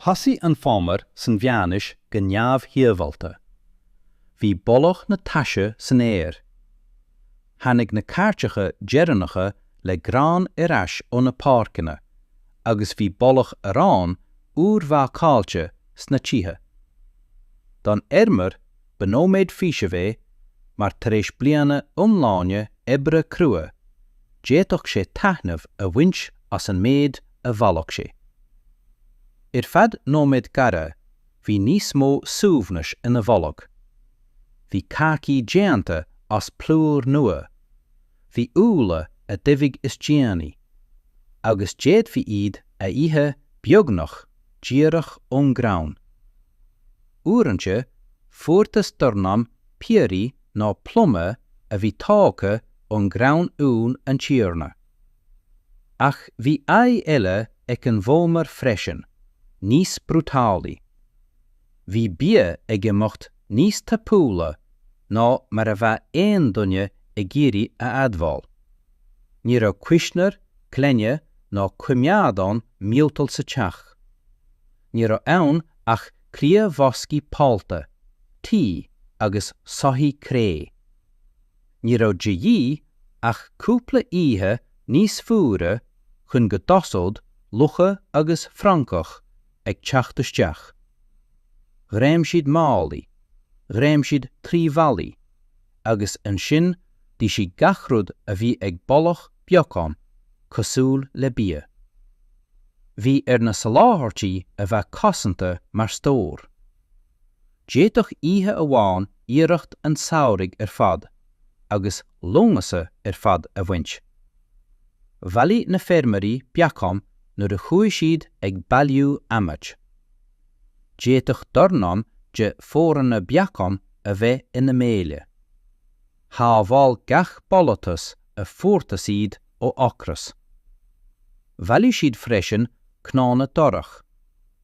Thosaigh an fómhar san mheánaois go neamhshibhialta. Bhí boladh na taise san aer. Tháinig na cairteacha deireanacha le grán ar ais ó na páirceanna agus bhí boladh aráin úrbhácáilte sna tithe. Don fheirmeoir ba nóiméad faoisimh é mar tar éis bliana iomláine oibre crua d'fhéadfadh sé taitneamh a bhaint as an méid a a bhailigh sé. Ar feadh nóiméid ghearra bhí níos mó suaimhnis ina bholg. Bhí cácaí déanta as plúr nua, bhí úlla a d'aibigh is déanaí, agus d'fhéadfaí iad a ithe beagnach díreach ón gcrann. Uaireanta fuarthas dornán piorraí nó plumaí a bhí tógtha ón gcrann ón tiarna. Ach bhí aghaidh eile ag an bhfómhar freisin, níos brúidiúlaí. Bhí bia ag imeacht níos tapúla ná mar a bheadh aon duine ag iarraidh a admháil. Ní raibh cuisneoir, canna ná coimeádán miotail sa teach. Ní raibh ann ach cliathbhoscaí pollta, tuí agus soithí cré. Ní raibh de dhíth ach cúpla oíche níos fuaire chun go dtosódh lucha agus francaigh ag teacht isteach. Chreim siad málaí, chreim siad trí bhallaí, agus ansin d'ith siad gach rud a bhí ag boladh beagán cosúil le bia. Bhí ar na soláthairtí a bheith cosanta mar stór. D'fhéadfadh oíche amháin iarracht an tsamhraidh ar fad agus Lúnasa ar fad a bhaint. Bhailigh na feirmeoirí beacáin nuair a chuaigh siad ag bailiú adhmaid. D'fhéadfadh dornán de phóranna beacán a bheith ina mbéile. Shábháil gach bolatas a fuarthas iad ó ocras. Bhailigh siad freisin cnónna darach,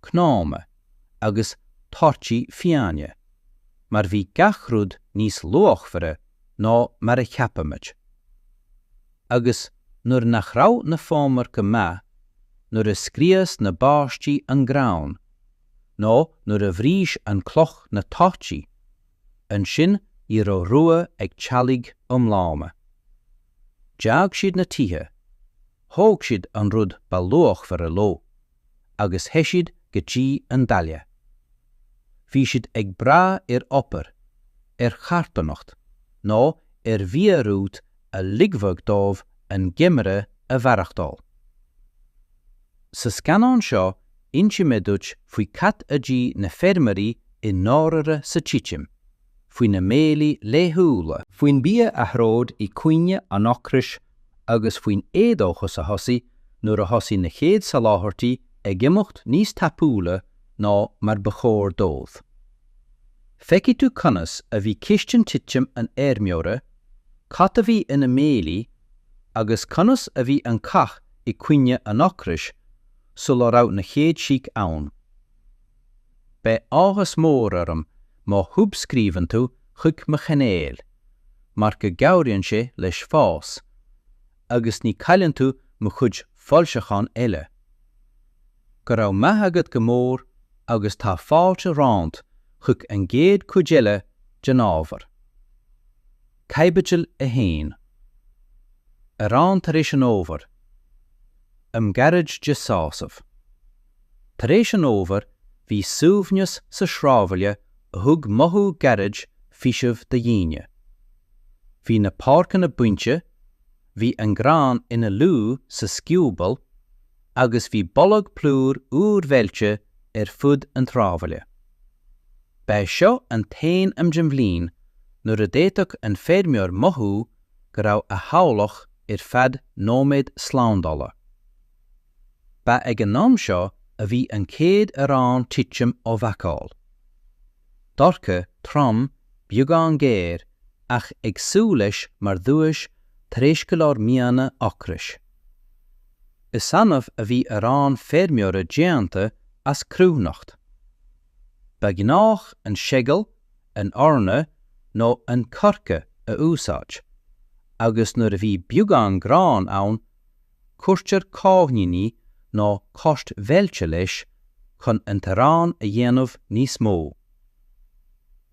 cnónna. agus torthaí fiáine, mar bhí gach rud níos luachmhaire ná mar a cheapaimid. Agus nuair nach raibh na fómhair go maith, nuair a scrios na báistí an grán, nó nuair a bhris an cloch na torthaí, ansin ní raibh rogha ag teaghlaigh iomlána. D'fhág siad na tithe, thóg siad an rud ba luachmhaire leo. agus theith siad go dtí an baile. Bhí siad ag brath ar obair, ar charthanacht nó ar mhiorúilt a ligfeadh dóibh an geimhreadh a mhaireachtáil. Sa scannán seo insímid duit faoi cad a d'ith na feirmeoirí i ndáirire sa titim. faoina mbéilí laethúla, faoin mbia a throid i gcoinne an ocrais agus faoin éadóchas a thosaigh nuair a thosaigh na chéad soláthairtí ag imeacht níos tapúla ná mar ba chóir dóibh. Feicfidh tú conas a bhí cistin titim an fheirmeora, cad a bhí ina mbéilí agus conas a bhí an cath i gcoinne an ocrais sula raibh na chéad sioc ann. Beidh áthas mór orm má shuibscríobhann tú chuig mo chainéal, mar go gcabhraíonn sé leis fás, agus ní chailleann tú mo chuid foilseachán eile. Go raibh maith agat go mór agus tá fáilte romhat chuig an gcéad chuid eile den ábhar. Caibidil 1. Arán tar éis an fhómhair. Am gairid de sásamh. Tar éis an fhómhair, bhí suaimhneas sa sráidbhaile a thug mothú gairid faoisimh do dhaoine. Bhí na páirceanna bainte, bhí an grán ina luí sa scioból agus bhí boladh plúir úir mheilte ar fud an tsráidbhaile. Ba é seo an t-aon am den bhliain nuair a d'fhéadfadh an feirmeoir mothú go raibh a theaghlach ar feadh nóiméad slándála. Ba ag an am seo a bhí an chéad arán titim á bhácáil. Dorcha, trom, beagán géar, ach ag súil leis mar dhuais tar éis go leor míonna ocrais. Is annamh a bhí arán feirmeora déanta as cruithneacht. Ba ghnách an seagal, an eorna nó an coirce a úsáid, agus nuair a bhí beagán gráin ann, cuirtear cáithníní nó coirt mheilte leis chun an t-arán a dhéanamh níos mó.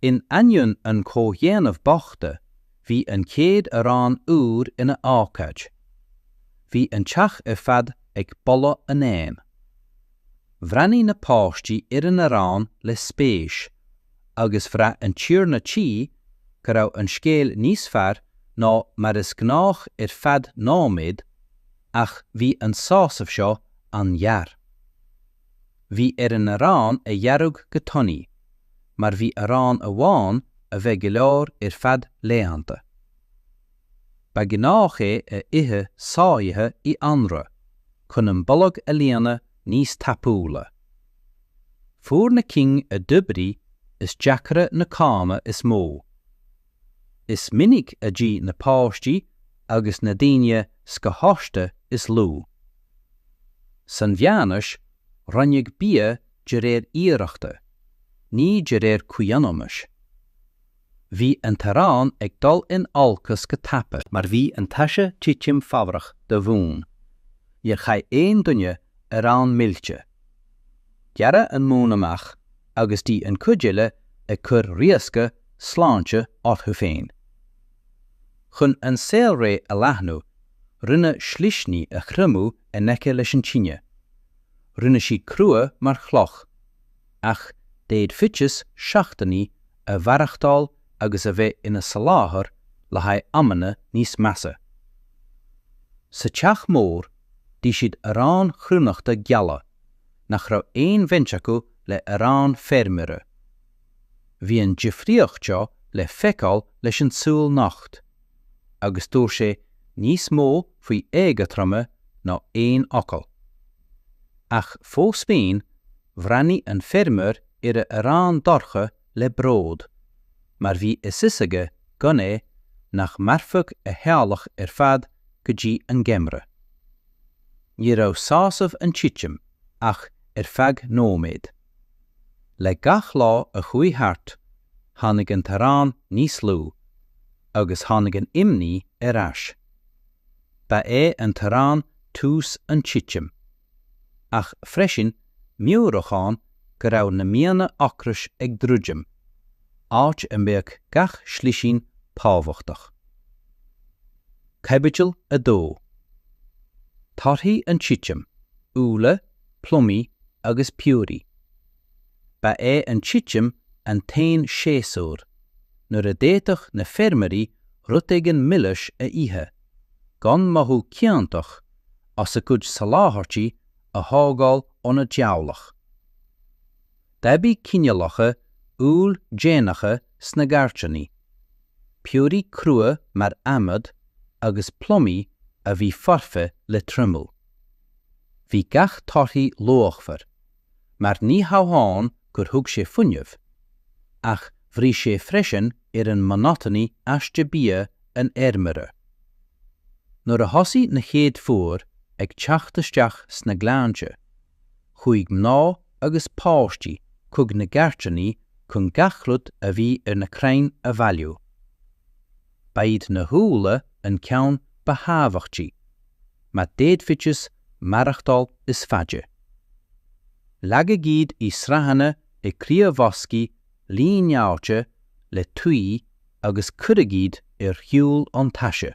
In ainneoin an chomhdhéanaimh bochta, bhí an chéad arán úr ina ócáid. Bhí an teach ar fad ag boladh an oighinn. Bhreathnaigh na páistí ar an arán le spéis agus bhraith an tiarna tí go raibh an scéal níos fearr ná mar is gnách ar feadh nóiméad, ach bhí an sásamh seo an-ghearr. Bhí ar an arán a ghearradh go tanaí, mar bhí arán amháin a bheith go leor ar feadh laethanta. Ba ghnách é a ithe sáite i anraith, chun an bolg a líonadh níos tapúla. Fuair na cinn a d'oibrigh is deacra na cáma is mó. Is minic a d'ith na páistí agus na daoine scothaosta is lú. San mheánaois, roinneadh bia de réir iarrachta, ní de réir comhionannais. Bhí an t-arán ag dul in olcas go tapa, mar bhí an taise titim fabhrach do mhún. Níor chaith aon duine arán millte. Gearradh an mún amach agus d'ith an chuid eile ag cur riosca sláinte orthu féin. Chun an saolré a leathnú, rinneadh slisní a thriomú in aice leis an tine. Rinne siad crua mar chloch, ach d'fhéadfaidís seachtainí a mhaireachtáil agus a bheith ina soláthar le haghaidh amanna níos measa. Sa teach mór, d'ith siad arán chruithneachta geala, nach raibh aon bhaint acu le arán feirmeora. Bhí an difríocht seo le feiceáil leis an súil nocht, agus dúirt sé níos mó faoi éagothroime ná aon fhocal. Ach fós féin, bhreathnaigh an feirmeoir ar a arán dorcha le bród, mar bhí a fhios aige gan é nach mairfeadh a theaghlach ar fad go dtí an geimhreadh. Ní raibh sásamh an titim ach ar feadh nóiméad. Le gach lá a chuaigh thart, tháinig an t-arán níos lú, agus tháinig an imní ar ais. Ba é an t-arán tús an titim, ach freisin meabhrúchán go raibh na míonna ocrais ag druidim, áit a mbeadh gach slisín tábhachtach. Caibidil 2. Torthaí an titim, úlla, plumaí agus piorraí. Ba é an titim an t-aon séasúr nuair a d'fhéadfadh na feirmeoirí rud éigin milis a ithe, gan mothú ciontach as a gcuid soláthairtí a thógáil óna dteaghlach. D'aibigh cineálacha úll déanacha sna gcairteanaí, piorraí crua mar adhmad agus plumaí a bhí foirfe le triomú. Bhí gach torthaí luachmhar, mar ní hamháin gur thug sé fuinneamh, ach bhris sé freisin ar an monotony aiste bia an fheirmeora. Nuair a thosaigh na chéad fuair ag teacht isteach sna gleannta, chuaigh mná agus páistí chuig na gairdíní chun gach rud a bhí ar na crainn a bhailiú. Ba iad na húlla an ceann ba thábhachtaí, mar d'fhéadfaidís maireachtáil is faide. Leagadh iad i sraitheanna i gcliathbhoscaí líneáilte le tuí agus cuireadh iad ar shiúl ón taise.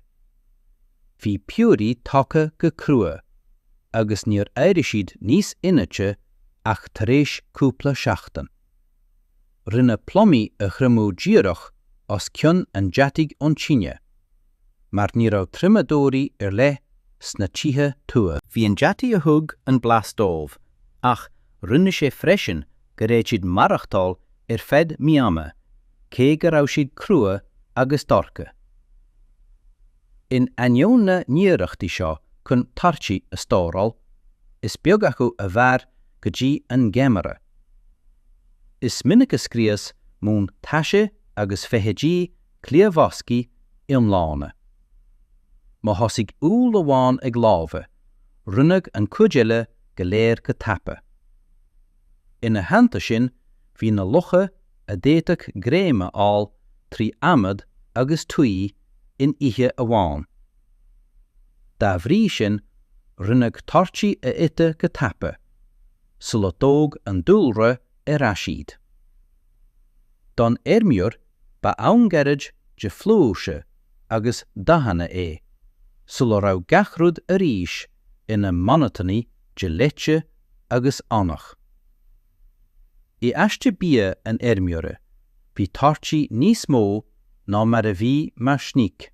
Bhí piorraí tógtha go crua agus níor éirigh siad níos inite ach tar éis cúpla seachtain. Rinneadh plumaí a thriomú díreach os cionn an deataigh ón tine, mar ní raibh triomadóirí ar leith sna tithe tuaithe. Bhí an deataigh a thug an blas dóibh, ach rinne sé freisin go raibh siad maireachtáil ar feadh míonna, cé go raibh siad crua agus dorcha. In ainneoin na n-iarrachtaí seo chun torthaí a stóráil, is beag acu a mhair go dtí an geimhreadh. Is minic a scrios mún taise agus feithidí cliathbhoscaí iomlána. Má thosaigh úll amháin ag lobhadh, rinneadh an chuid eile go léir go tapa. Ina theannta sin, bhí na lucha a d'fhéadfadh greim a fháil trí adhmad agus tuí in oíche amháin. Dá bhrí sin, rinneadh torthaí a ithe go tapa, sula dtóg an dúlra ar ais iad. Don fheirmeoir, ba am gairid de fhlúirse agus dathanna é, sula raibh gach rud arís ina monotony de leite agus Eanach. I aiste bia an fheirmeora bhí torthaí níos mó ná mar a bhí mar sneaic.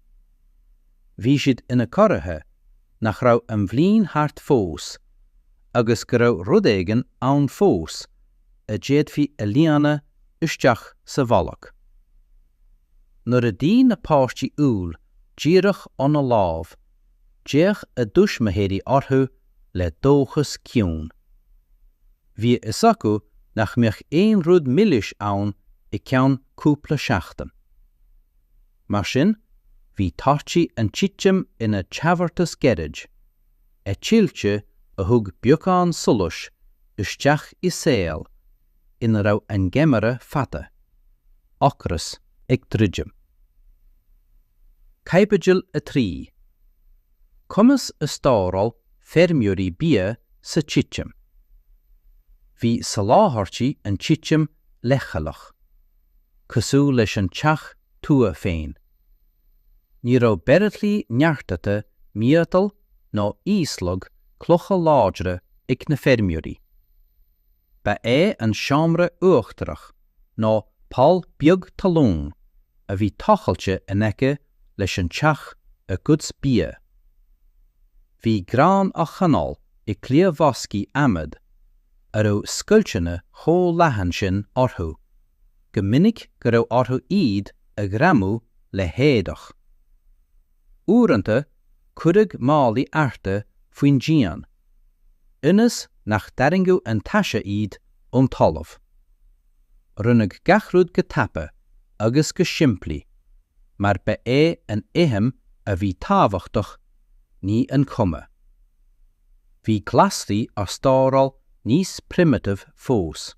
Bhí siad ina gcomhartha nach raibh an bhliain thart fós agus go raibh rud éigin ann fós a d'fhéadfaí a líonadh isteach sa bholg. Nuair a d'ith na páistí úll díreach óna lámh d'fhéach a dtuismitheoirí orthu le dóchas ciúin. Bhí a fhios acu nach mbeadh aon rud milis ann i gceann cúpla seachtain. Mar sin, bhí torthaí an titim ina dtabhartas gairid, eitilte a thug beagán solais isteach i saol ina raibh an geimhreadh fada, ocras ag druidim. Caibidil 3. Conas a stóráil feirmeoirí bia sa titim. Bhí soláthairtí an titim leithchealach, cosúil leis an teach tua féin. Ní raibh bairillí neartaithe miotail ná íoslaigh cloiche láidre ag na feirmeoirí. Ba é an seomra uachtarach, nó poll beag talún a bhí tochailte in aice leis an teach a gcuid bia. Bhí grán á choinneáil i gcliathbhoscaí adhmaid a raibh scoilteanna chomh leathan sin orthu go minic go raibh orthu iad a ghreamú le héadach. Uaireanta cuireadh málaí adhartha faoin díon. ionas nach dtarraingeodh an taise iad ón talamh. Rinneadh gach rud go tapa agus go simplí, mar ba é an fheidhm a bhí tábhachtach, ní an chuma. Bhí glasraí á stóráil níos primitive fós.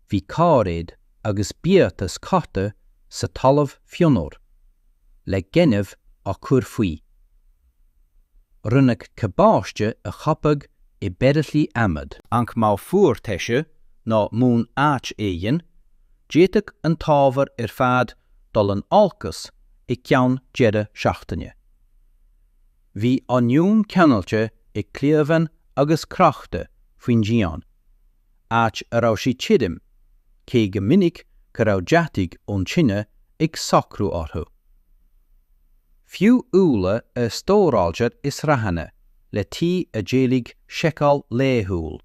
Bhí cairéid agus biatas curtha sa talamh fionnuar, le gaineamh á chur faoi. Rinneadh cabáiste a choipeadh i mbairillí adhmaid. Ach má fuair taise ná mún áit éigin, d'fhéadfadh an t-ábhar ar fad dul in olcas i gceann deireadh seachtaine. Bhí oinniún ceangailte i gcliabhán agus crochta faoin díon. áit a raibh sí tirim, cé go minic go raibh deatach ón tine ag socrú orthu. Fiú úlla a stóráiltear i sraitheanna le tuí a d'éiligh seiceáil laethúil,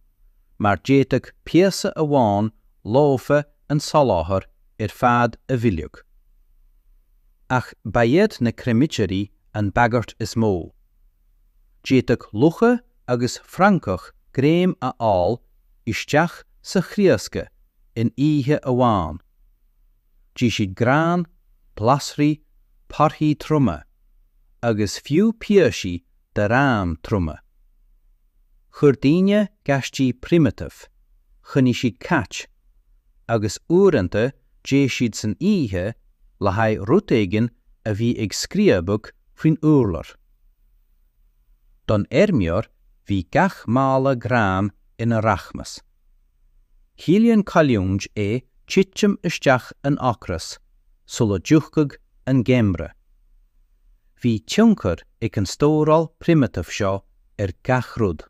mar d'fhéadfadh píosa amháin lofa an soláthar ar fad a mhilleadh. Ach ba iad na creimirí an bhagairt is mó. D'fhéadfadh lucha agus francaigh greim a fháil isteach sa chriosca in oíche amháin. D'ith siad grán, glasraí, torthaí trioma, agus fiú píosaí d'arán trioma. Chuir daoine gaistí primitive, choinnigh siad cait, agus uaireanta d'éist siad san oíche le haghaidh rud éigin a bhí ag scríobadh faoin urlár. Don fheirmeoir bhí gach mála grán ina rachmas. Chiallaíonn cailliúint é titim isteach in ocras sula dtiocfadh an geimhreadh. Bhí tionchar ag an stóráil primitif seo ar gach rud.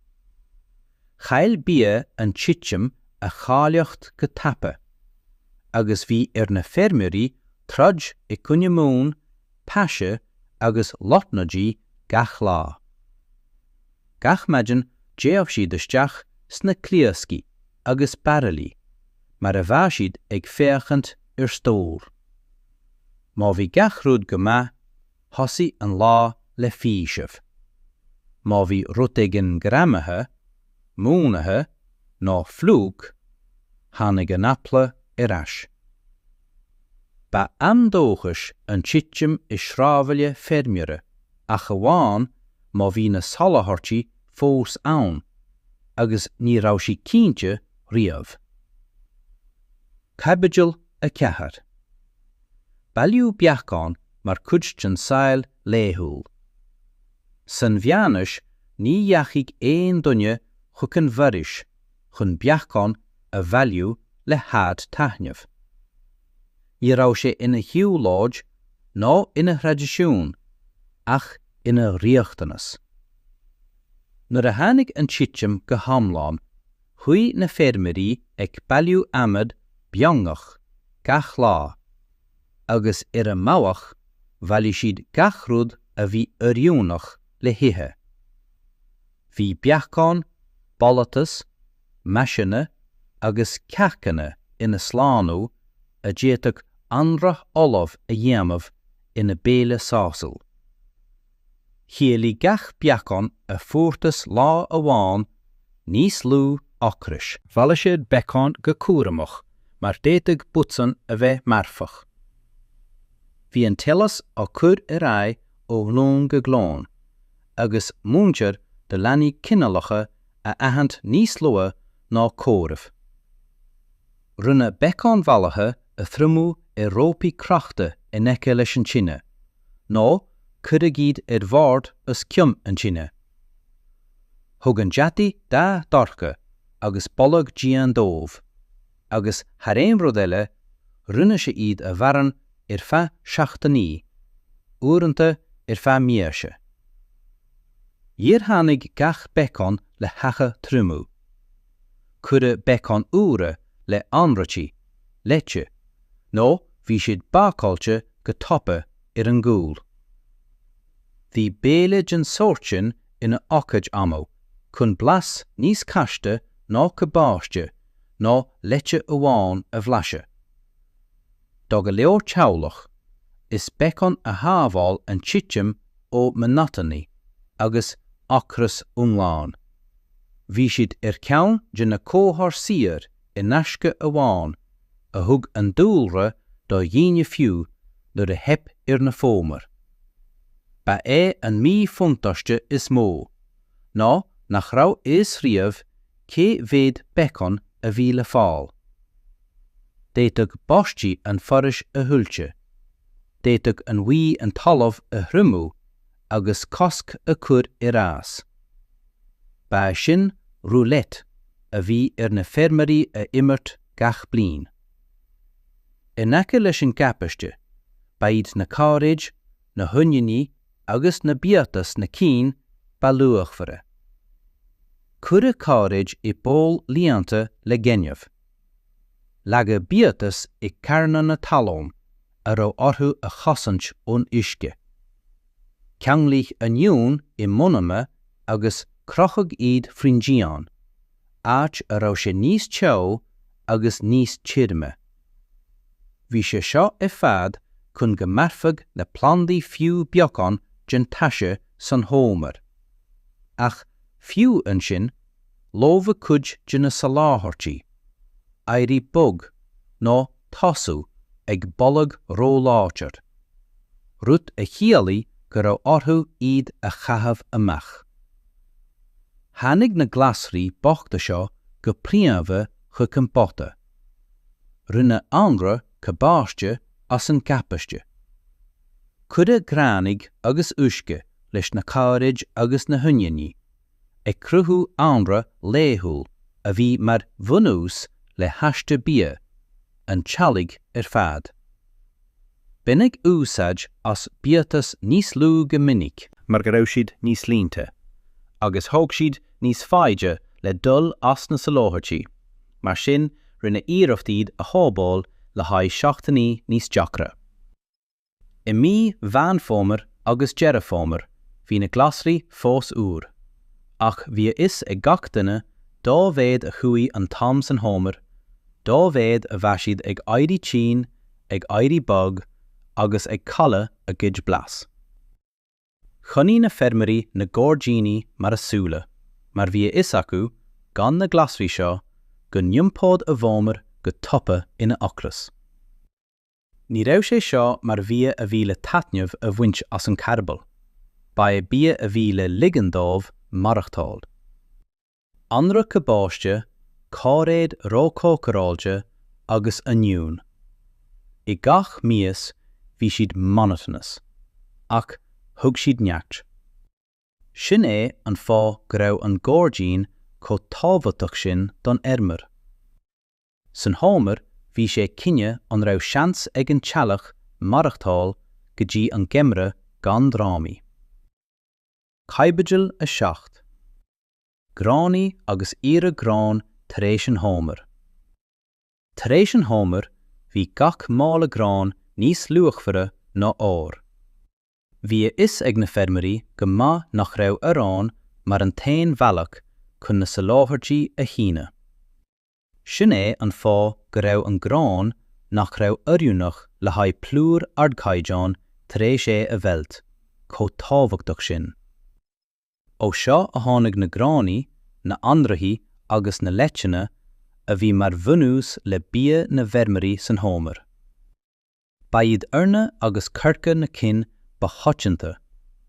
Chaill bia an titim a cháilíocht go tapa, agus bhí ar na feirmeoirí troid i gcoinne mún taise agus lotnaidí gach lá. Gach maidin d'fhéach siad isteach sna crioscaí agus bairillí mar a bheadh siad ag féachaint ar stór. Má bhí gach rud go maith, thosaigh an lá le faoiseamh. Má bhí rud éigin greamaithe, múnaithe nó fliuch, tháinig an eagla ar ais. Ba am dóchais an titim i sráidbhaile feirmeora, ach amháin má bhí na soláthairtí fós ann, agus ní raibh sí cinnte riamh. Caibidil 4. Bailíodh beacáin mar chuid den saol laethúil. San mheánaois ní dheachaigh aon duine chuig an bhforaois chun beacáin a bhailiú le haghaidh taitneamh. Ní raibh sé ina shiúlóid ná ina thraidisiún ach ina riachtanas. Nuair a tháinig an titim go hiomlán, chuaigh na feirmeoirí ag bailiú adhmad beangach gach lá, agus ar an mbealach bhailigh siad gach rud a bhí oiriúnach le hithe. Bhí beacáin, boletus, maiseanna agus cearcanna ina slánú a d'fhéadfadh anraith fholamh a dhéanamh ina béile sásúil. Chiallaigh gach beacán a fuarthas lá amháin níos lú ocrais. Bhailigh siad beacáin go cúramach mar d'fhéadfadh botún a bheith marfach. Bhí an t-eolas á cur ar aghaidh ó ghlúin go glúin agus múintear do leanaí cineálacha a aithint níos luaithe ná comhaireamh. Rinneadh beacáin bhailithe a thriomú ar rópaí crochta in aice leis an tine, nó cuireadh iad ar bhord os cionn an tine. Thug an deataigh dath dorcha agus boladh dian dóibh. agus thar aon rud eile, rinne sé iad a bhuanú ar feadh seachtainí, uaireanta ar feadh míosa. Níor tháinig gach beacán le haghaidh triomú. Cuireadh beacáin úra le hanraithí, leite, nó bhí siad bácáilte go tapa ar an gcúl. Bhí béile den sórt sin ina ócáid annamh chun blas níos caste ná cabáiste ná leite amháin a bhlaiseadh. Do go leor teaghlach is beacáin a shábháil an titim ó mhonatónacht agus ocras iomlán. Bhí siad ar cheann de na cabhair saor in aisce amháin a thug an dúlra do dhaoine fiú nuair a theip ar na fómhair. Ba é an míbhuntáiste is mó ná nach raibh a fhios riamh cé mhéad beacán a bhí le fáil? D'fhéadfadh báistí an fhoraois a thuilte, d'fhéadfadh an bhuí an talamh a thriomú agus cosc a chur ar fhás. Ba é sin roulette a bhí ar na feirmeoirí a imirt gach bliain. In aice leis an gcabáiste, ba iad na cairéid na hoinniúin agus na biatais na cinn ba luachmhaire. Cuireadh cairéid i bpoll líonta le gaineamh. Leagadh biatais i gcarnanna talún a raibh orthu a chosaint ón uisce. Ceanglaíodh oinniúin i mbunnaí agus crochadh iad faoin díon. áit a raibh sé níos teo agus níos tirime. Bhí sé seo ar fad chun go mairfeadh na plandaí fiú beagán den taise san fhómhar. Ach fiú ansin, lobhadh cuid de na soláthairtí, d'éiríodh bog nó thosaíodh ag boladh róláidir, rud a chiallaigh go raibh orthu iad a chaitheamh amach. Tháinig na glasraí bochta seo go príomha chuig an bpota. Rinneadh anraith cabáiste as an gcabáiste. Cuireadh gránaigh agus uisce leis na cairéid agus na hoinniúin, ag cruthú anraith laethúil a bhí mar bhunús le haiste bia an teallaigh ar fad. Baineadh úsáid as biatais níos lú go minic, mar go raibh siad níos líonta agus thóg siad níos faide le dul as na soláthairtí, mar sin rinneadh iarracht iad a shábháil le haghaidh seachtainí níos deacra. I mí Mheán Fómhair agus Deireadh Fómhair bhí na glasraí fós úr. ach bhí a fhios ag gach duine dá mhéad a chuaigh an t-am san fhómhar, dá mhéad a bhí siad ag éirí tinn, ag éirí bog agus ag cailleadh a gcuid blas. Choinnigh na feirmeoirí na gairdíní mar a súile mar bhí a fhios acu, gan na glasraí seo, go n-iompódh a bhfómhar go tapa ina ocras. Ní raibh sé seo mar bhia a bhí le taitneamh a bhaint as an carball, ba é bia é a bhí le ligean dóibh maireachtáil. Anraith cabáiste, cáiréid róchócaráilte agus oinniún. I gach mias bhí siad monotonous, ach thug siad neart. Sin é an fáth go raibh an gairdín chomh tábhachtach sin don fheirmeoir. San fhómhar bhí sé cinneadh an raibh seans ag an teaghlach maireachtáil go dtí an geimreadh gan drámaí. Caibidil 7. Gránaigh agus iarmhair gráin tar éis an fhómhair. Tar éis an fhómhair bhí gach mála gráin níos luachmhaire ná ór. Bhí a fhios ag na feirmeoirí go maith nach raibh arán mar an t-aon bhealach chun na soláthairtí a shíneadh. Sin é an fáth go raibh an grán nach raibh oiriúnach le haghaidh plúr ardchaighdeáin tar éis é a mheilt, chomh tábhachtach sin. Ó seo a tháinig na gránaigh, na hanraithí agus na leiteanna a bhí mar bhunús le bia na bhfeirmeoirí san fhómhar. Ba iad eorna agus coirce na cinn ba choitianta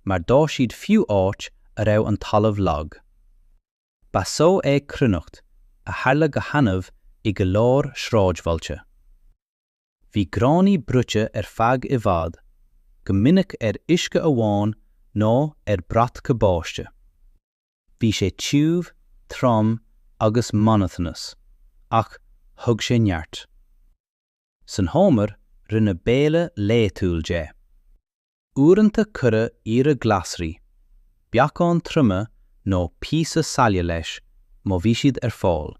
mar d'fhás siad fiú áit a raibh an talamh lag. Ba só é cruithneacht a tharla go hannamh i go leor sráidbhailte. Bhí gránaigh bruite ar feadh i bhfad, go minic ar uisce amháin nó ar bhrat cabáiste. Bhí sé tiubh, trom agus monotonous, ach thug sé neart. San fhómhar rinneadh béile laetúil de. Uaireanta cuireadh iarmhair glasraí, beacáin triomaithe nó píosa saille leis má bhí siad ar fáil.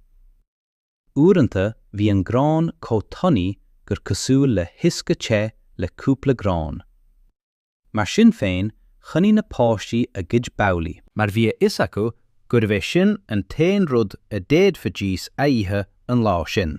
Uaireanta bhí an grán chomh tanaí gur cosúil le huisce te le cúpla gráin. Mar sin féin choinnigh na páistí a gcuid babhlaí, mar bhí a fhios acu gurbh é sin an t-aon rud a d'fhéadfaidís a ithe an lá sin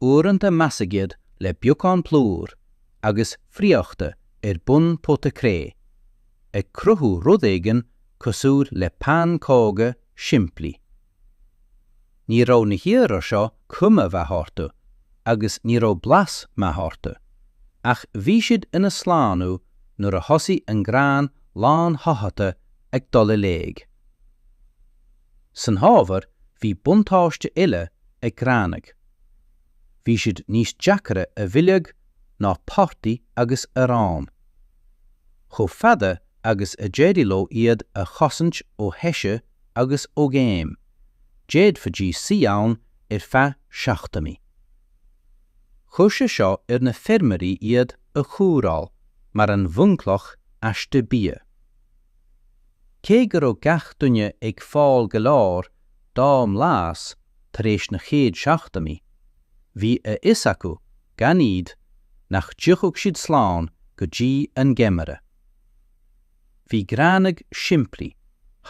Uaireanta meascadh iad le beagán plúir agus friochta ar bun pota cré, ag cruthú rud éigin cosúil le pancóga simplí. Ní raibh na hearraí seo cuma mhaith orthu agus ní raibh blas maith orthu, ach bhí siad ina slánú nuair a thosaigh an grán lán-shoitheata ag dul i léig. San fhómhar bhí buntáiste eile ag gránaigh. Bhí siad níos deacra a mhilleadh ná prátaí agus arán. Chomh fada agus a d'éirigh leo iad a chosaint ó thaise agus ó ghéim, d'fhéadfaidís suí ann ar feadh seachtainí. Chuir sé seo ar na feirmeoirí iad a chóireáil mar an bhunchloch aiste bia. Cé go raibh gach duine ag fáil go leor dá mblas tar éis na chéad seachtainí, bhí a fhios acu, gan iad, nach dtiocfadh siad slán go dtí an geimhreadh. Bhí gránaigh simplí,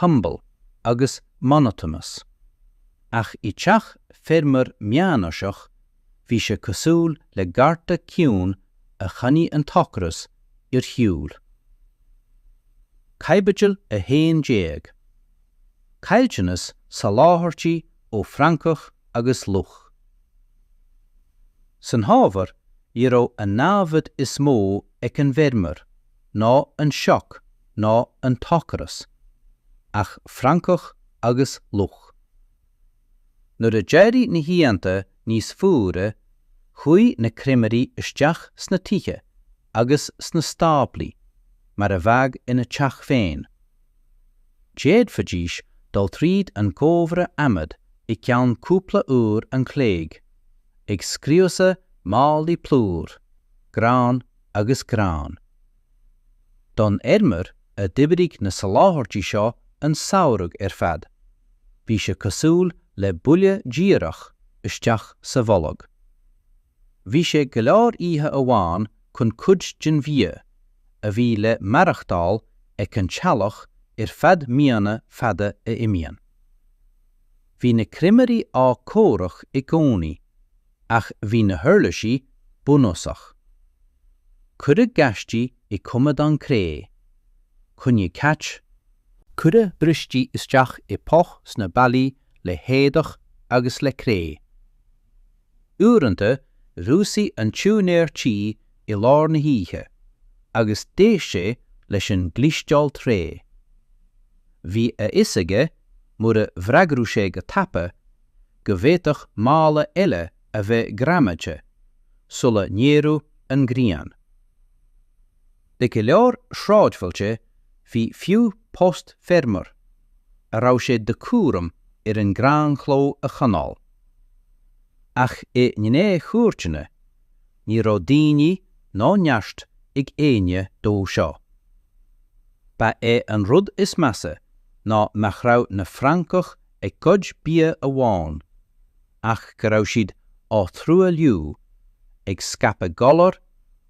humble, agus monotonous, ach i dteach feirmeoir meánaoiseach bhí sé cosúil le garda ciúin a choinnigh an t-ocras ar shiúl. Caibidil 11. Caillteanas soláthairtí ó francach agus luch. San fhómhar ní raibh an námhaid is mó ag an bhfeirmeoir ná an sioc ná an t-ocras, ach francach agus luch. Nuair a d'éirigh na hoícheanta níos fuaire, chuaigh na creimirí isteach sna tithe agus sna stáblaí mar a bheadh ina dteach féin. D'fhéadfaidís dul tríd an gcófra adhmaid i gceann cúpla uair an chloig, ag scriosadh málaí plúir, grán agus gráin. Don fheirmeoir a d'oibrigh na soláthairtí seo an samhradh ar fad, bhí sé cosúil le buille díreach isteach sa bholg. Bhí sé go leor oíche amháin chun cuid den bhia a bhí le maireachtáil ag an teaghlach ar feadh míonna fada a imíonn. Bhí na creimirí á gcomhrac i gcónaí Ach bhí na huirlisí bunúsach. Cuireadh gaistí i coimeádáin cré, coinnigh cait, cuireadh bristí isteach i bpoll sna ballaí le héadach agus le cré Uaireanta dhúisigh an t-úinéir tí i lár na hoíche agus d'éist sé leis an gclisteáil tré Bhí a fhios aige mura bhfreagradh sé go tapa go bhféadfadh mála eile a bheith greamaithe sula n-éireodh an ghrian. Le go leor sráidbhailte bhí fiú post feirmeoir a raibh sé de chúram ar an gránchló a choinneáil. Ach i ngnáthchúirteanna, ní raibh daoine ná neart ag éinne dó seo. Ba é an rud is measa ná nach raibh na francach a gcuid bia amháin, ach go raibh siad á thruailliú, ag scaipeadh galar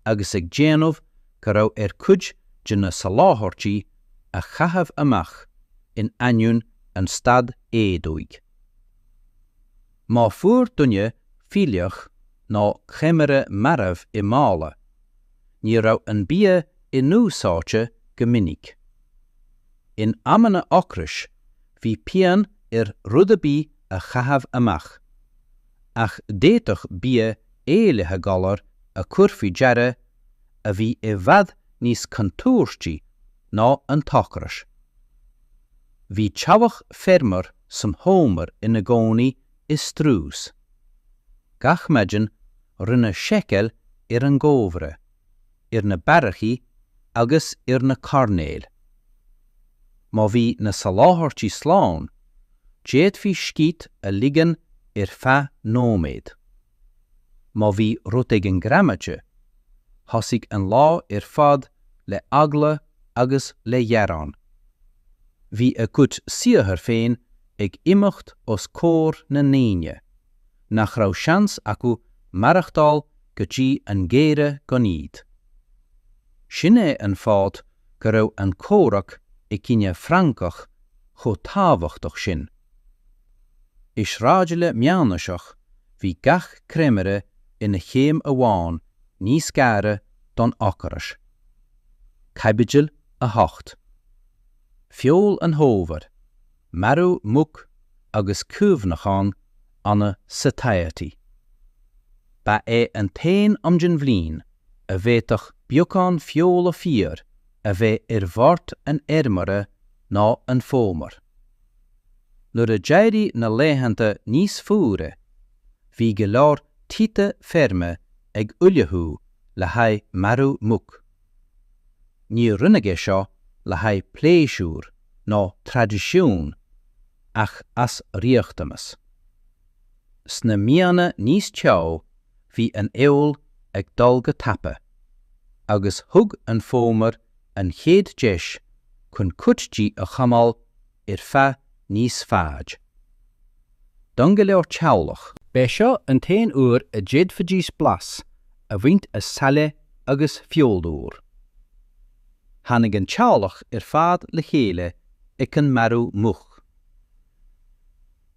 agus ag déanamh go raibh ar chuid de na soláthairtí a chaitheamh amach in ainneoin an staid éadóigh. Má fuair duine fuílleach nó creimire marbh i mála, ní raibh an bia inúsáidte go minic. In amanna ocrais bhí pian ar rud ar bith a chaitheamh amach, ach d'fhéadfadh bia éillithe galar a chur faoi deara a bhí i bhfad níos contúirtí ná an t-ocras. Bhí teaghlach feirmeoir san fhómhar ina gcónaí i strus. Gach maidin rinneadh seiceáil ar an gcómhra. ar na beairicí agus ar na coirnéil. Má bhí na soláthairtí slán, d'fhéadfaí scíth a ligean ar feadh nóiméad. Má bhí rud éigin greamaithe, thosaigh an lá ar fad le heagla agus le ghearán. Bhí a gcuid saothair féin ag imeacht os comhair na ndaoine. nach raibh seans acu maireachtáil go dtí an geimhreadh gan iad. Sin é an fáth go raibh an comhrac i gcoinne francach chomh tábhachtach sin. I sráidbhaile meánaoiseach bhí gach creimire ina chéim amháin níos gaire don ocras. Caibidil 8. Feoil an Fhómhair. marú muc agus cuimhneachán annamh satiety. Ba é an t-aon am den bhliain a bhféadfadh beagán feola fíor a bheith ar bhord an fheirmeora ná an fómhar. Nuair a d'éirigh na laethanta níos fuaire, bhí go leor tithe feirme ag ullmhú le haghaidh marú muc. Níor rinneadh é seo le haghaidh pléisiúir ná traidisiúin ach as riachtanas. Sna míonna níos teo bhí an fheoil ag dul go tapa agus thug an fómhar an chéad deis chun cuid di a choinneáil ar feadh níos faide. Don go leor teaghlach, b'é seo an t-aon uair a d'fhéadfaidís blas a bhaint as saille agus feoil úr. Tháinig an teaghlach ar fad le chéile ag an marú muc.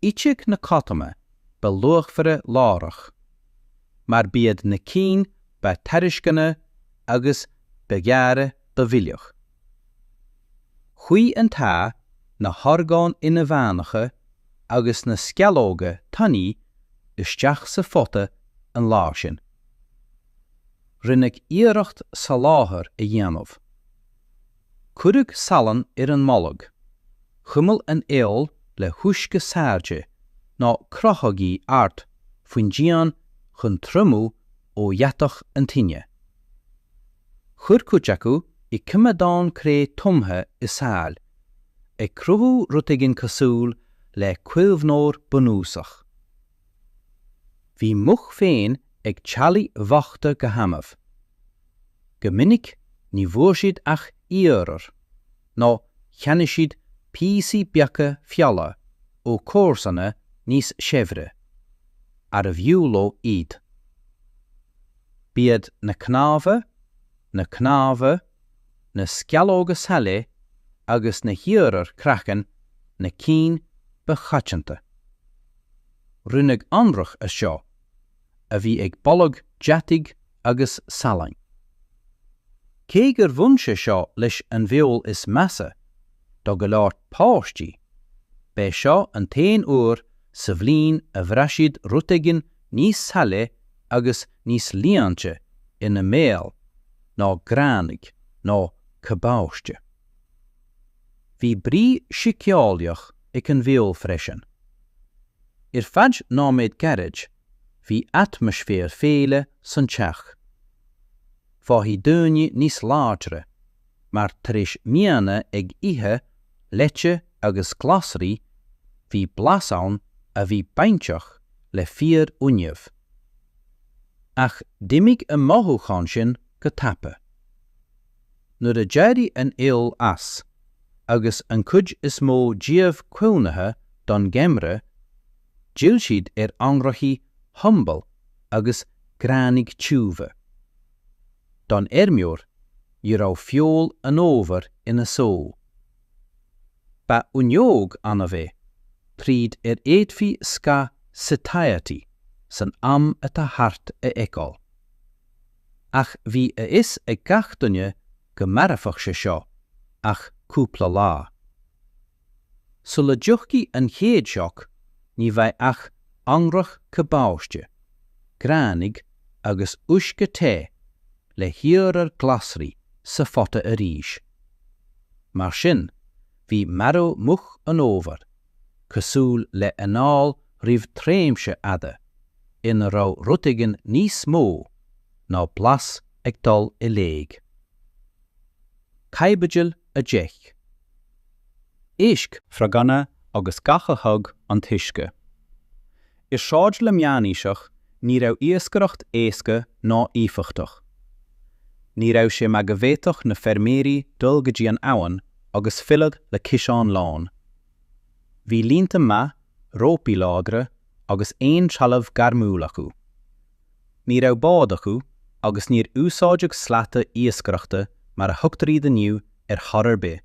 Itheadh na codanna ba luachmhaire láithreach, mar b'iad na cinn ba tairisceana agus ba ghearra ba mhilleadh. Chuaigh an t-ae, na horgáin inmheánacha agus na sceallóga tanaí isteach sa phota an lá sin. Rinneadh iarracht soláthar a dhéanamh. Cuireadh salann ar an mbolg, chuimil an fheoil le huisce saillte, nó crochadh í ard faoin díon chun triomú ó dheatach an tine. Chuir cuid acu i gcoimeádáin chré tumtha i saill, ag cruthú rud éigin cosúil le caomhnóir bunúsach. Bhí muc féin ag teaghlaigh bhochta go hannamh. Go minic ní bhfuair siad ach iarmhar. nó cheannaigh siad píosaí beaga feola ó chomharsana níos saibhre, arbh fhiú leo iad. B'iad na cnámha, na cnámha, na sceallóga saille agus na hiarmhair craicinn na cinn ba choitianta. Rinneadh anraith as seo, a bhí ag boladh deataigh agus salainn. Cé gur bhain sé seo leis an bhfeoil is measa do go leor páistí, b'é seo an t-aon uair sa bhliain a bhraith siad rud éigin níos saille agus níos líonta ina mbéal ná gránaigh nó cabáiste. Bhí brí síceolaíoch ag an bhfeoil freisin. Ar feadh nóiméad gairid, bhí atmaisféar féile san teach. Fágthaí daoine níos láidre, mar tar éis míonna ag ithe leite agus glasraí, bhí blas ann a bhí bainteach le fíor-fhuinneamh. Ach d'imigh an mothúchán sin go tapa. Nuair a d'éirigh an fheoil as, agus an cuid is mó díobh caomhnaithe don gheimreadh, D'fhill siad ar anraithí humble agus gránaigh tiubha. Don fheirmeoir, ní raibh feoil an fhómhair ina só. Ba fhuinneog annamh é, tríd ar fhéadfaí scáth satiety san am atá thart a fheiceáil. Ach bhí a fhios ag gach duine go mairfeadh sé seo ach cúpla lá. Sula dtiocfaidh an chéad sioc, ní bheidh ach anraith cabáiste, gránaigh agus uisce te le hiarmhar glasraí sa phota arís. Mar sin, bhí marú muc an fhómhair cosúil le anáil roimh tréimshe fhada ina raibh rud éigin níos mó ná blas ag dul i léig. Caibidil 10. Éisc, froganna agus gach a thug an t-uisce. I sráidle meánaoiseach ní raibh iascaireacht éasca ná éifeachtach. Ní raibh sé mar go bhféadfadh na feirmeoirí dul go dtí an abhainn agus filleadh le ciseán lán. Bhí líonta maith, rópaí láidre agus aon trealamh gairmiúil acu. Ní raibh bád acu agus níor úsáideadh slata iascaireachta mar a thugtar iad inniu ar chor ar bith.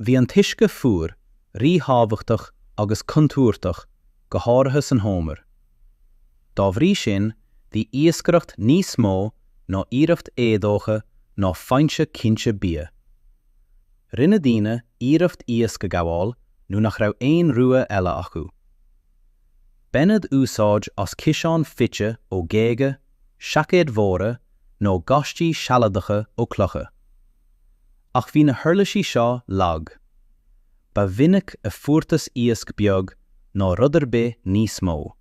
Bhí an t-uisce fuar ríthábhachtach agus contúirteach, go háirithe san fhómhar. Dá bhrí sin, bhí iascaireacht níos mó ná iarracht éadócha ná foinse cinnte bia. Rinne daoine iarracht iasc a ghabháil nuair nach raibh aon rogha eile acu. Baineadh úsáid as ciseáin fite ó ghéaga, seaicéid mhóra, nó gaistí sealadacha ó chlocha. Ach bhí na huirlisí seo lag. Ba mhinic a fuarthas iasc beag ná rud ar bith níos mó.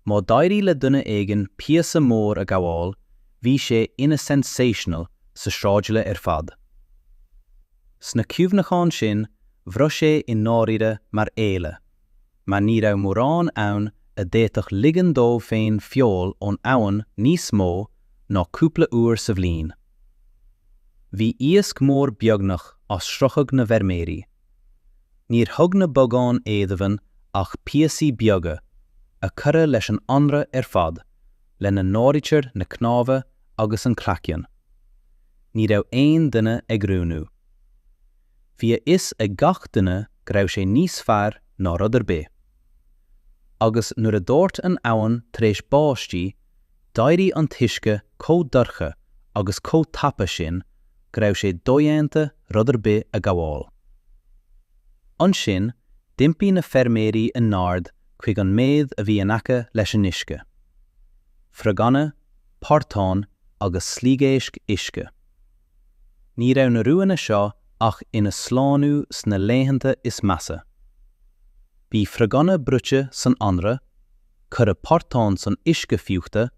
Má d'éirigh le duine éigin píosa mór a ghabháil, bhí sé ina sensational sa sráidbhaile ar fad. Sna cuimhneacháin sin, bhraith sé i ndáiríre mar fhéile, mar ní raibh mórán ann a d'fhéadfadh ligean dó féin feoil ón abhainn níos mó ná cúpla uair sa bhliain. Bhí iasc mór beagnach as sroicheadh na bhfeirmeoirí. Níor thug na bogáin éadomhain ach píosaí beaga, a cuireadh leis an anraith ar fad, lena n-áirítear na cnámha agus an craiceann. ní raibh aon duine ag roghnú. Bhí a fhios ag gach duine go raibh sé níos fearr ná rud ar bith. Agus nuair a dhóirt an abhainn tar éis báistí, d'éirigh an t-uisce chomh dorcha agus chomh tapa sin go raibh sé dodhéanta rud ar bith a ghabháil. Ansin d'iompaigh na feirmeoirí a n-aird chuig an méad a bhí in aice leis an uisce. Froganna, portáin agus sliogéisc uisce. Ní raibh na roghanna seo ach ina slánú sna laethanta is measa. Bhí froganna bruite san anraith, cuireadh portáin san uisce fiuchta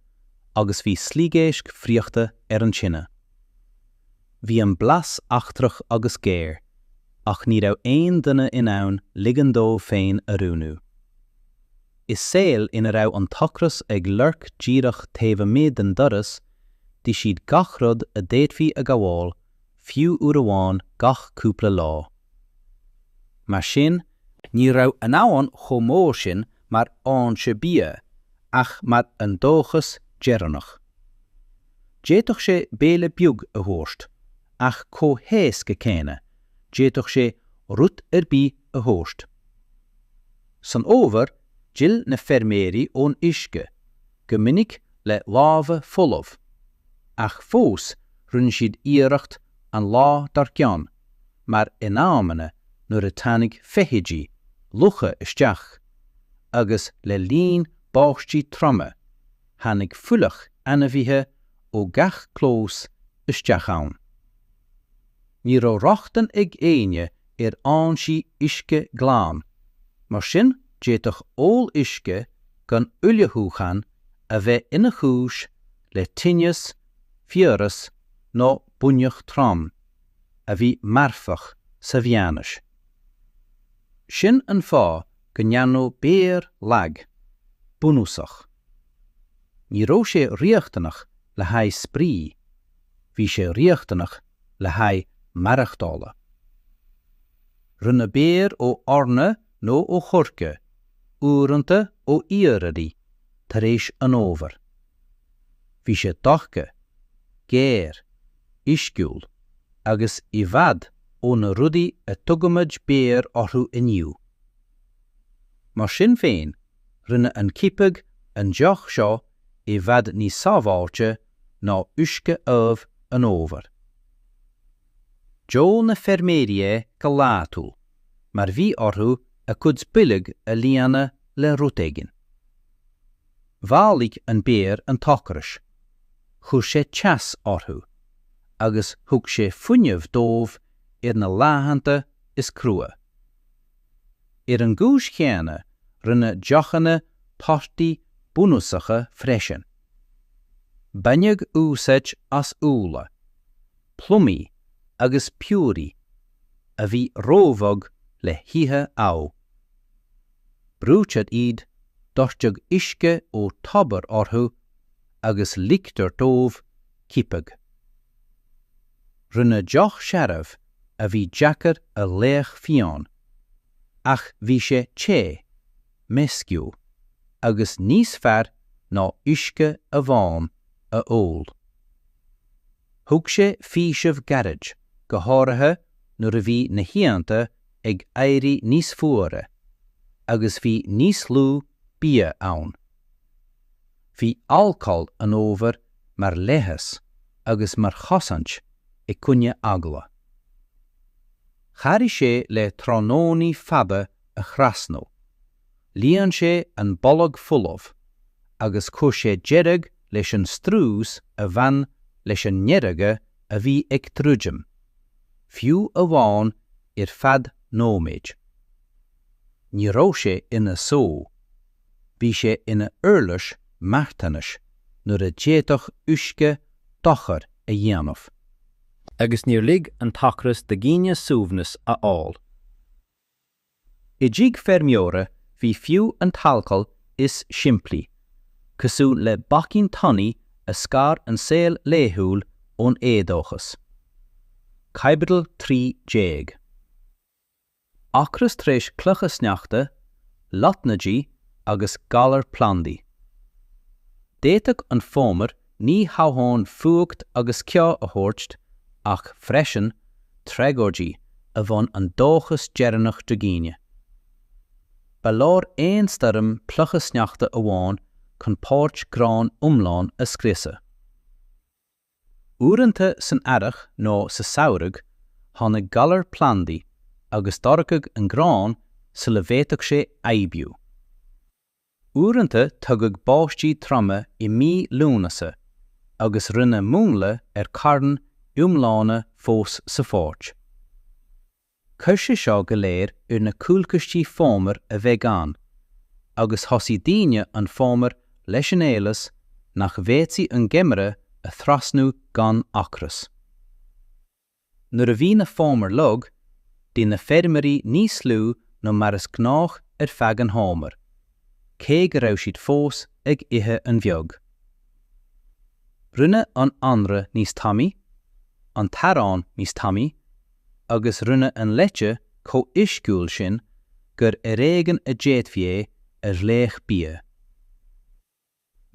agus bhí sliogéisc friochta ar an tine. Bhí an blas eachtrach agus géar, ach ní raibh aon duine in ann ligean dó féin a roghnú. I saol ina raibh an t-ocras ag lorg díreach taobh amuigh den doras, d'ith siad gach rud a d'fhéadfaí a ghabháil, fiú uair amháin gach cúpla lá. Mar sin, ní raibh an abhainn chomh mór sin mar fhoinse bia ach mar an dóchas deireanach. D'fhéadfadh sé béile beag a thabhairt, ach chomh héasca céanna, d'fhéadfadh sé rud ar bith a thabhairt. San fhómhar, d'fhill na feirmeoirí ón uisce, go minic le lámha folamh, ach fós rinne siad iarracht an lá dár gcionn, mar in amanna nuair a tháinig feithidí, lucha isteach, agus le linn báistí troma, tháinig fuílleach ainmhithe ó gach clós isteach ann. Ní raibh rochtain ag éinne ar fhoinsí uisce glan, mar sin d'fhéadfadh ól uisce gan ullmhúchán a bheith ina chúis le tinneas, fiabhras nó buinneach trom, a bhí marfach sa mheánaois. Sin an fáth go ndearnadh beoir lag, bunúsach. Ní raibh sé riachtanach le haghaidh spraoi. bhí sé riachtanach le haghaidh maireachtála. Rinneadh beoir ó eorna nó ó choirce, uaireanta ó iarraidí, tar éis an fhómhair. Bhí sé dorcha, géar, uisciúil, agus i bhfad ó na rudaí a dtugaimid beoir orthu inniu. Mar sin féin, rinne an coipeadh an deoch seo i bhfad níos sábháilte ná uisce amh an fhómhair. D'ól na feirmeoirí é go laethúil, mar bhí orthu a gcuid boilg a líonadh le rud éigin. Mhaolaigh an beoir an t-ocras, chuir sé teas orthu, agus thug sé fuinneamh dóibh ar na laethanta is crua. Ar an gcúis chéanna, rinneadh deochanna torthaí bunúsacha freisin. Baineadh úsáid as úlla, plumaí agus piorraí a bhí róbhog le hithe. Brúitear iad, doirteadh uisce ó tobar orthu agus ligtear dóibh coipeadh. Rinneadh deoch searbh a bhí deacair a ghlaoch fíon, ach bhí sé te, meisciúil, agus níos fearr ná uisce amháin a ól. Thug sé faoiseamh gairid, go háirithe nuair a bhí na hoícheanta ag éirí níos fuaire, agus bhí níos lú bia ann. Bhí alcól an fhómhair mar leigheas agus mar chosaint i gcoinne eagla. Chabhraigh sé le tráthnónaí fada a thrasnú, líon sé an bolg folamh agus chuir sé deireadh leis an strus a bhain leis an ngeimhreadh a bhí ag druidim, fiú amháin ar feadh nóiméid. Ní raibh sé ina só bhí sé ina uirlis marthanais nuair a d'fhéadfadh uisce dochar a dhéanamh. Agus níor lig an t-ocras do dhaoine suaimhneas a fháil. I dtigh feirmeora bhí fiú an t-alcól is simplí, cosúil le bacainn tanaí a scar an saol laethúil ón éadóchas. Caibidil 13. ocras tar éis clocha sneachta, lotnaidí agus galar plandaí. D'fhéadfadh an fómhar ní hamháin fuacht agus ceo a thabhairt ach freisin tragóidí a bhain an dóchas deireanach de dhaoine. Ba leor aon stoirm clocha sneachta amháin chun páirc gráin iomlán a scriosadh. Uaireanta san earrach nó sa samhradh tháinig galar plandaí agus dhorchaigh an grán sula bhféadfadh sé aibiú. Uaireanta tugadh báistí troma i mí Lúnasa agus rinneadh múnla ar chairn iomlána fós sa pháirc. Chuir sé seo go léir ar na cúlchistí fómhair a bheith gann, agus thosaigh daoine an fómhar leis an eolas nach bhféadfaí an geimreadh a thrasnú gan ocras. Nuair a bhí na fómhair lag, d'ith na feirmeoirí níos lú ná mar is gnách ar feadh an fhómhair, cé go raibh siad fós ag ithe an-bheag. Rinneadh an anraith níos tanaí, an t-arán níos tanaí, agus rinneadh an leite chomh huisciúil sin gur ar éigean a d'fhéadfaí é a ghlaoch bia. Is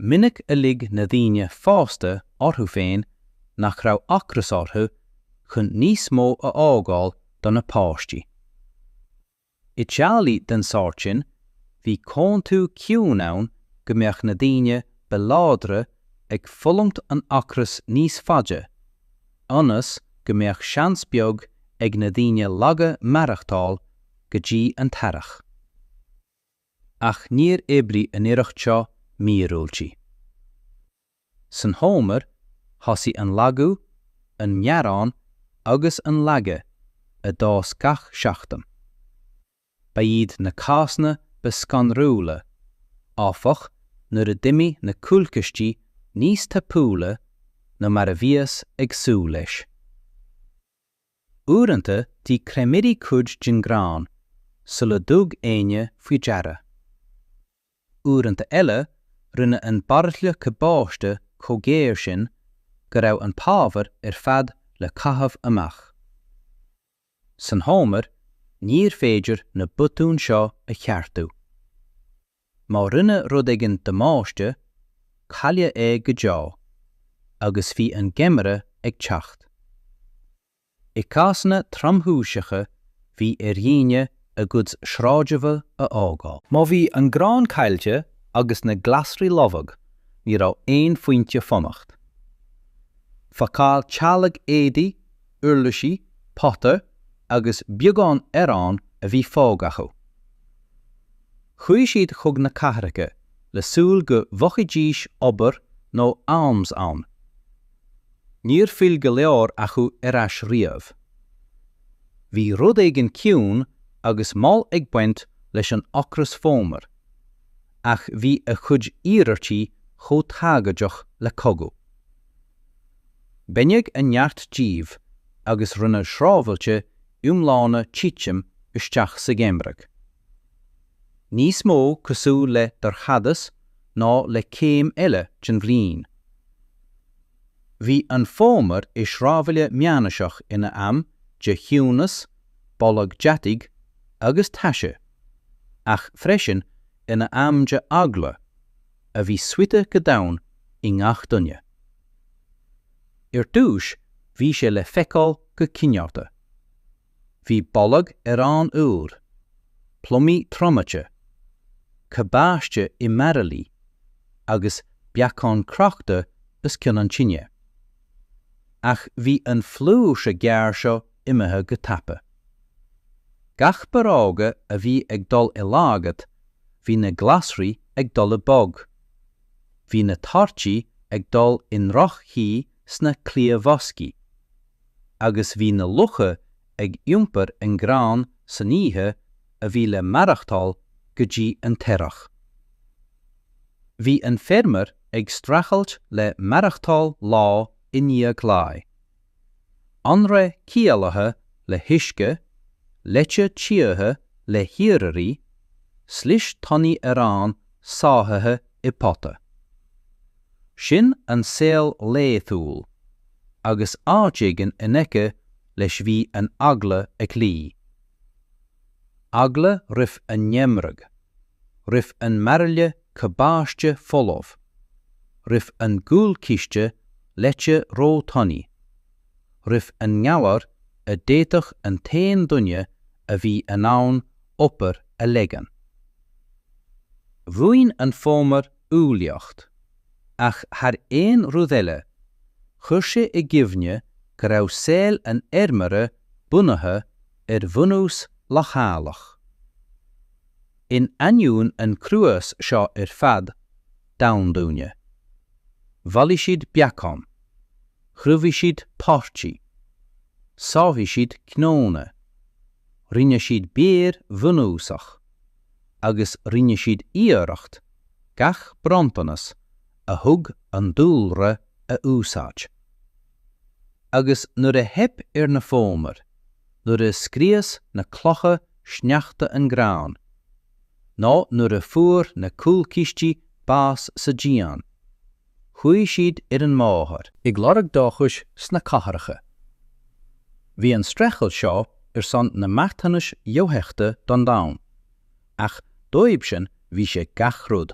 minic a lig na daoine fásta orthu féin nach raibh ocras orthu chun níos mó a fhágáil do na páistí. I dteaghlaigh den sórt sin, bhí comhaontú ciúin ann go mbeadh na daoine ba láidre ag fulaingt an ocras níos faide, ionas go mbeadh seans beag ag na daoine laga maireachtáil go dtí an t-earrach. Ach níor oibrigh an íobairt seo míorúiltí. San fhómhar, thosaigh an lagú, an mearán agus an laige a d'fhás gach seachtain. Ba iad na cásanna ba scanrúla, áfach, nuair a d'imigh na cúlchistí níos tapúla ná mar a bhíothas ag súil leis. Uaireanta d'ith creimirí cuid den ghrán sular thug éinne faoi deara. Uaireanta eile, rinne an bairille cabáiste chomh géar sin go raibh an t-ábhar ar fad le caitheamh amach. San fhómhar, níorbh fhéidir na botúin seo a cheartú. Má rinne rud éigin damáiste, cailleadh é go deo, agus bhí an geimhreadh ag teacht. I gcásanna tromchúiseacha bhí ar dhaoine a gcuid sráideanna a fhágáil. Má bhí an grán caillte agus na glasraí lofa ní raibh aon phointe fanacht. Phacáil teaghlaigh éadaí, uirlisí, pota agus beagán aráin a bhí fágtha acu. Chuaigh siad chuig na cathracha le súil go bhfaighidís obair nó alms ann. Níor fhill go leor acu ar ais riamh. Bhí rud éigin ciúin agus mall ag baint leis an ocras fómhair, ach bhí a chuid iarmhairtí chomh tragóideach le cogadh. Baineadh a neart díobh agus rinneadh sráidbhailte iomlána titim isteach sa gheimhreadh. níos mó cosúil le dorchadas ná le céim eile den bhliain. Bhí an fómhar i sráidbhaile meánaoiseach ina am de chiúnas, boladh deataigh agus taise, ach freisin ina am de eagla, a bhí suite go domhain i ngach duine. Ar dtús bhí sé le feiceáil go cineálta. Bhí boladh aráin úir, plumaí triomaithe, cabáiste i mbairillí agus beacáin crochta os cionn an tine. Ach bhí an flúirse ghearr seo imithe go tapa. Gach bollóg a bhí ag dul i laghad, bhí na glasraí ag dul i mbog. Bhí na torthaí ag dul i ndroch-chaoi sna cliathbhoscaí. agus bhí na lucha ag iompar an ghráin san oíche a bhí le maireachtáil go dtí an t-earrach. Bhí an feirmeoir ag streachailt le maireachtáil lá i ndiaidh lae. Anraith caolaithe le huisce, leite tíortha le hiarraidhrí, slis tanaí aráin sáite i pota. Sin an saol laethúil, agus áit éigin in aice leis bhí an eagla ag luí. Eagla roimh an ngeimhreadh, roimh an mbairille cabáiste folamh, roimh an gcúlchiste leite róthanaí, roimh an ngalar a d'fhéadfadh an t-aon duine a bhí in ann obair a leagan. Bhain an fómhar umhlaíocht, ach thar aon rud eile, chuir sé i gcuimhne go raibh saol an fheirmeora bunaithe ar bhunús leochaileach. In ainneoin an chruais seo ar fad, damhain daoine. Bhailigh siad beacáin. Chruinnigh siad páirtí. Shábháil siad cnónna. Rinne siad beoir bhunúsach. agus rinne siad iarracht gach bronntanas a thug an dúlra a úsáid. Agus nuair a theip ar na fómair, nuair a scrios na clocha sneachta an grán, nó nuair a fuair na cúlchistí bás sa díon, Chuaigh siad ar an mbóthar. ag lorg dóchais sna cathracha. Bhí an streachailt seo ar son na marthanais dofheicthe don domhan, ach dóibhsean bhí sé gach rud.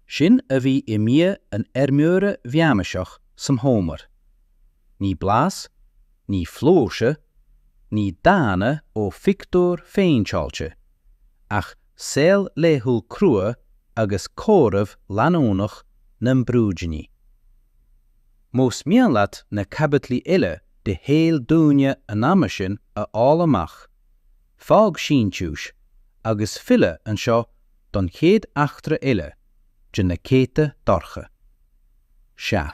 Sin a bhí i mbia an fheirmeora mheánaoisigh san fhómhar. Ní blas, ní flúirse, ní dánta ó phictiúr phéinteáilte, ach Saol laethúil crua agus comhaireamh leanúnach na mbrúidíní. Más mian leat na caibidlí uile de shaol daoine an ama sin a fháil amach, fág síntiús agus fill anseo don chéad eachtra eile de na Céadta Dorcha. Sea.